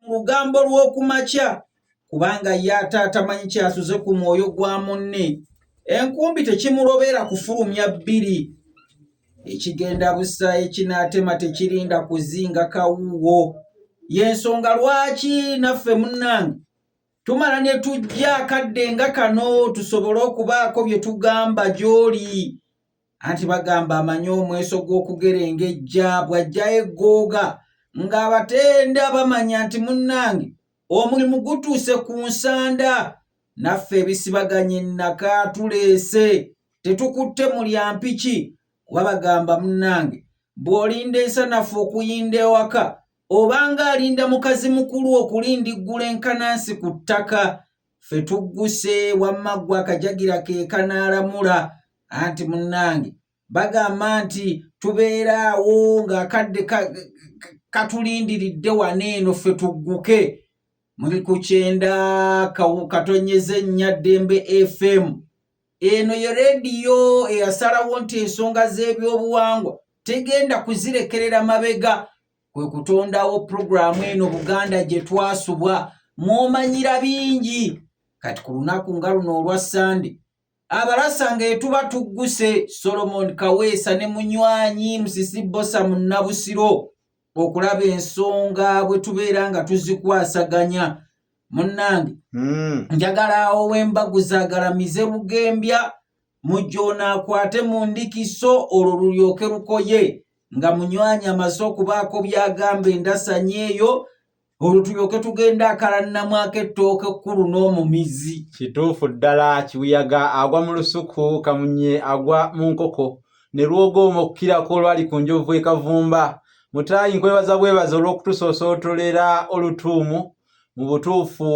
mu lugambo lw'oku makya kubanga ye ate atamanyi kyasuze ku mwoyo gwa munne enkumbi tekimulobera kufulumya bbiri ekigenda busa ekinaatema tekirinda kuzinga kawuuwo y'ensonga lwaki naffe munnange tumala ne tujja akadde nga kano tusobole okubaako bye tugamba gy'oli anti bagamba amanyi omweso gw'okugerengejja bw'ajjayo eggooga ng'abatenda bamanya nti munnange omulimu gutuuse ku nsanda naffe ebisibaganye nnaka tuleese tetukutte mulyampiki kuba bagamba munnange bw'olinda ensanafu okuyinda ewaka obanga alinda mukazi mukulu okulindiggula enkanansi ku ttaka ffe tugguse wamma ggwe akajagira ke kanaalamula anti munnange bagamba nti tubeera awo ng'akadde katulindiridde wana eno ffe tugguke muli ku kyenda katonyeza ennya ddembe fm eno ye rediyo eyasalawo nti ensonga z'ebyobuwangwa tegenda kuzirekerera mabega kwe kutondawo pulogulaamu eno buganda gye twasubwa mwomanyira bingi kati ku lunaku nga luno olwa ssande abalasa ng'etuba tugguse solomon kaweesa ne munywanyi musisi bosa mu nnabusiro okulaba ensonga bwe tubeera nga tuzikwasaganya munnange hmm. njagala awo wembagu zagalamize bugembya mujja onaakwate mu ndikiso olwo lulyoke lukoye nga munywanyi amaze okubaako byagamba endasanya eyo olwo tulyoke tugenda akalanamwako ettooke kkulu n'omumizi kituufu ddala kibuyaga agwa mu lusuku kamunye agwa mu nkoko ne lwogooma okukirako olwali ku njovu ekavumba mutaayi nkwebaza bwebaza olw'okutusoosootolera olutuumu mu butuufu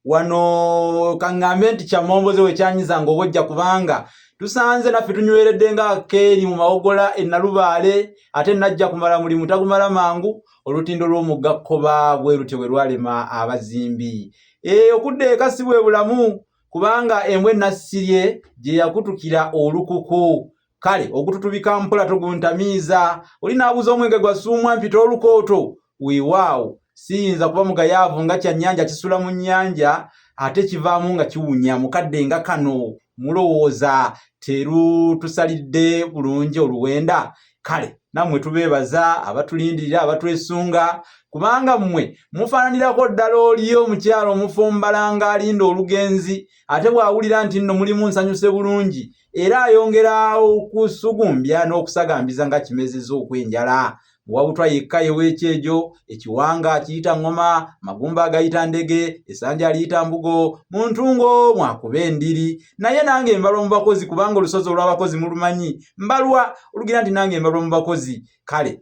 wano kaŋŋambe nti kyamomboze wekyanyiza nga obojja kubanga tusanze naffe tunyweredde nga keeri mu mawogola ennalubaale ate najja kumala mulimu tagumala mangu olutindo lw'omugga kkoba bwe lutyo bwe lwalema abazimbi ee eh, okudda eka si bwe bulamu kubanga embwa ennassirye gye yakutukira olukuku kale ogututubika mpola toguntamiiza oli n'abuza omwenge gwa suumwa mpita olukooto weewaawo siyinza kuba mugayaavu nga kyannyanja kisula mu nnyanja ate kivaamu nga kiwunya mukadde nga kano mulowooza terutusalidde bulungi oluwenda kale nammwe tubeebaza abatulindirira abatwesunga kubanga mmwe mufaananirako ddala oli omukyalo omufumbalanga alinda olugenzi ate bw'awulira nti nno mulimu nsanyuse bulungi era ayongera okusugumbya n'okusagambiza nga kimezeza okw'enjala wabutwa yekka yewekyejo ekiwanga kiyita ŋŋoma magumba agayita ndege esanja aliyita mbugo mu ntungo mwakuba endiri naye nange mbalwa mu bakozi kubanga olusozi olw'abakozi mulumanyi mbalwa olugira nti nange mbalwa mu bakozi kale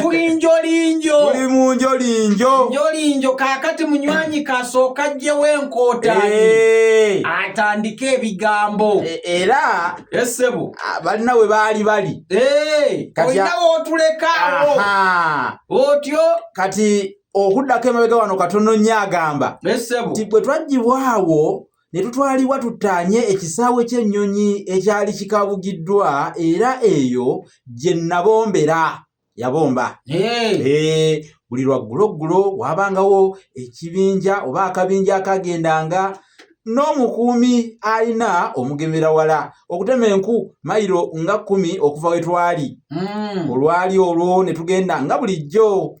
tuli njolinjo tuli mu njolinjo njolinjo kakati munywanyi kasooka jjewo enkootani eh. atandike ebigambo e, era esebo ah, balina we baali bali eh, olina wotulekaawo otyo kati okuddako emabega wano katono nnyo agamba nti bwe twaggyibwawo ne tutwalibwa tuttaanye ekisaawe ky'ennyonyi ekyali kikabugiddwa era eyo gye nabombera yabomba buli lwagguloggulo waabangawo ekibinja oba akabinja akagendanga n'omukuumi alina omugemera wala okutema enku mayiro nga kkumi okuva we twali hmm. olwali olwo ne tugenda nga bulijjo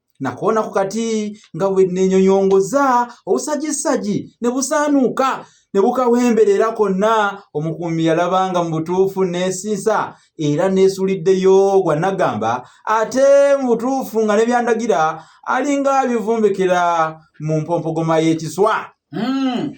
nakoona ku kati nga bwe nenyonyongoza obusajisagi ne busaanuuka ne bukawemberera konna omukuumi yalabanga mu butuufu neesiisa era neesuliddeyo gwa nagamba ate mu butuufu nga ne byandagira alinga abivumbikira mu mpompogoma y'ekiswa hmm.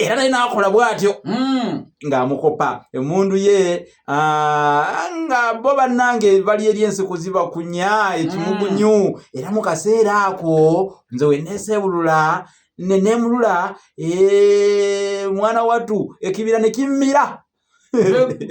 era naye n'akola bw'atyo hmm, ng'amukopa emundu ye ah, nga bo bannange bali eri ensiku ziba kunya ekimugunyu hmm. era mu kaseera ako nze weneeseebulula neneemulula eh, mwana wattu ekibira ne kimmira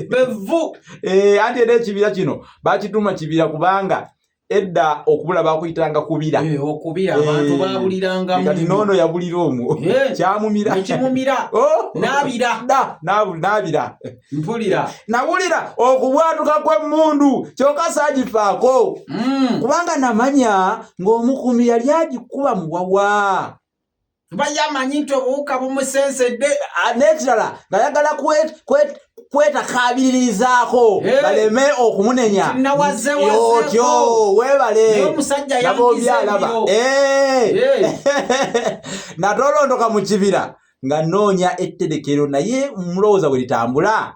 bevu eh, anti era ekibira kino bakituuma kibira kubanga edda okubula bakuyitanga kubira eh, okubira eh, abantu babuliranga kati nono yabulira omwo eh, kyamumira ekimumira oh! nabira da nabira mpulira nabulira okubwatuka kw'emmundu kyoka sagifaako mm. kubanga namanya ng'omukumi yali agikuba muwawa kuba ye amanyi nti obuwuka bumusensedde ah, n'ekirala ng'ayagala kwetakaabiririzaako baleme okumunenya otyo weebale nabobyalaba natolondoka mu kibira nga noonya etterekero naye mulowooza bwe litambula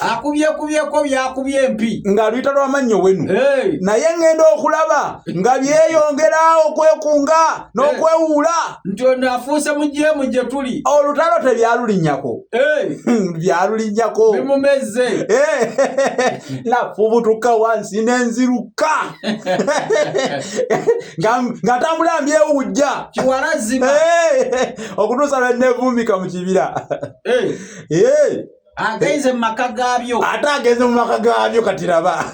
akubyekubyeko byakubye empi nga luyita lwamannyo wenu naye ngenda okulaba nga byeyongera okwekunga n'okwewuula nti ono afuuse mujeemu gye tuli olutalo tebyalulinyako hmm, byalulinyako bimumezze nafubutuka wansi nenziruka nga tambula mbyewujja kiwalazima okutuusa lwenevumika mu kibira agenze mu maka gaabyo ate agenze mu maka gaabyo kati laba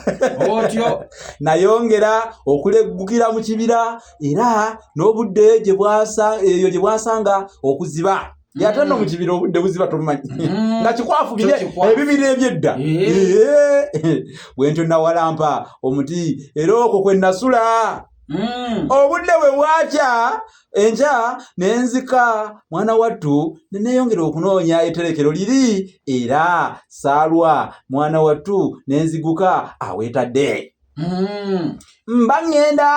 otyo nayongera okuleggukira mu kibira era n'obudde gye bwasa eyo gye bwasanga okuziba yata no mukibira obudde buziba tomumanyi mm. nga kikwafu bire ebibira ebyedda eh. eh. bwentyo nawalampa omuti era okwo kwe nasula mm. obudde bwe bwakya enkya ne nzika mwana wattu ne neeyongera okunoonya eterekero liri era saalwa mwana wattu ne nziguka aweetadde hmm. mba ŋŋenda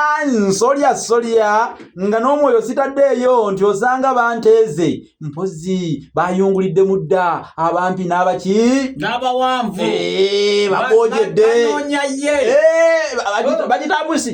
nsolya solya nga n'omwoyo sitaddeeyo nti osanga banteeze mpozi bayungulidde mu dda abampi n'abaki n'abawanvu eh, bagojedde eh, bagitambusi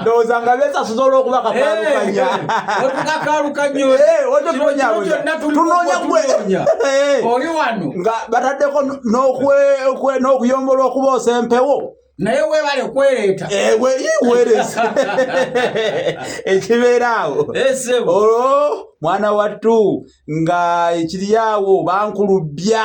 ndowooza nga besasuza olwokuba kakalukanya tunonya gwe oli wano nga bataddeko n'okuyombolwa okuboosa empewo naye webale kwereeta eh, weereza ekibeeraawo olwo mwana wattu nga ekiryawo bankulubbya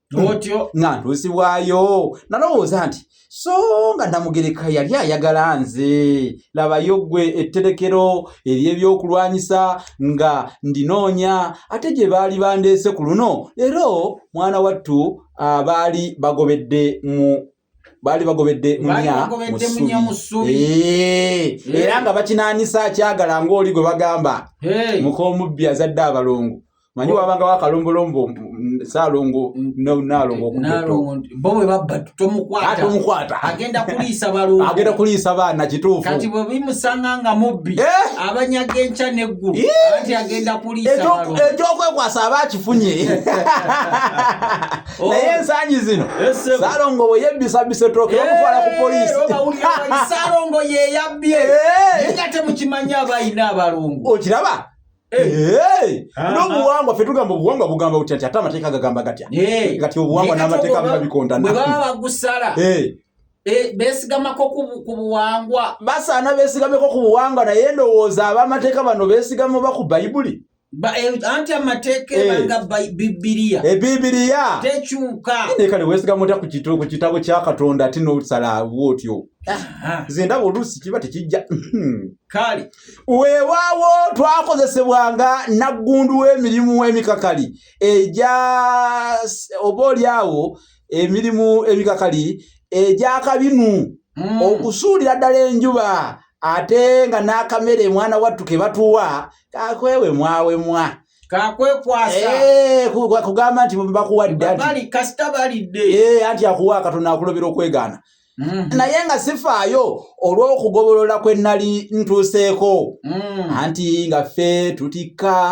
otyo nga ntuusibwayo nalowooza nti so nga namugereka yali ayagala nze labayo gwe etterekero ery'ebyokulwanyisa nga ndinoonya ate gye baali bandeese ku luno leero mwana wattu abaali bagobedde mu baali bagobedde munya musubi eh, eh. era nga bakinanisa akyagala ngaoli gwe bagamba eh. mukomubbi azadde abalongo manyi oh. wabanga wakalombolombo salongo nalongotomukwataagenda kuliisa baana kituufukati bwebimusanga nga mubbi abanyaga enkya neggulu anti agenda kuliisa ekyokwekwasaaba akifunye Oh. naye ensangi zino salongo bwe yebbisabisa ettooke bamutwala ku poliisisalongo eh, yeyabbye eh. nga temukimanyi abalina abalongo okiraba eh. nobuwangwa fe tugamba obuwangwa bugamba butya nti ate amateeka gagamba gatya gati obuwangwa n'amateeka biba bikondana bwe baba bagusala Eh, besigamako ku buwangwa basaana besigameko ku buwangwa naye ndowooza abamateeka bano besigama oba ku bayibuli Eh, anti amateeka eh. ebanga bibiriya ebibiriya eh, tekyuka naye kale wesigamu otya ku kitabo kya katonda ate n'osalaawo otyo nze ndaba oluusi kiba tekijja hmm. kale weewaawo twakozesebwanga naggundu w'emirimu emikakali egya oba oli awo emirimu emikakali egyakabinu hmm. okusuulira ddala enjuba ate nga n'akamere mwana wattu ke batuwa kakwewe mwawemwa kakwekwasa eh, kugamba nti bakuwadde eh, anti akuwa katonda akulobera okwegaana Mm. naye nga sifaayo olw'okugobolola kwe nnali ntuuseeko mm. anti nga ffe tutikka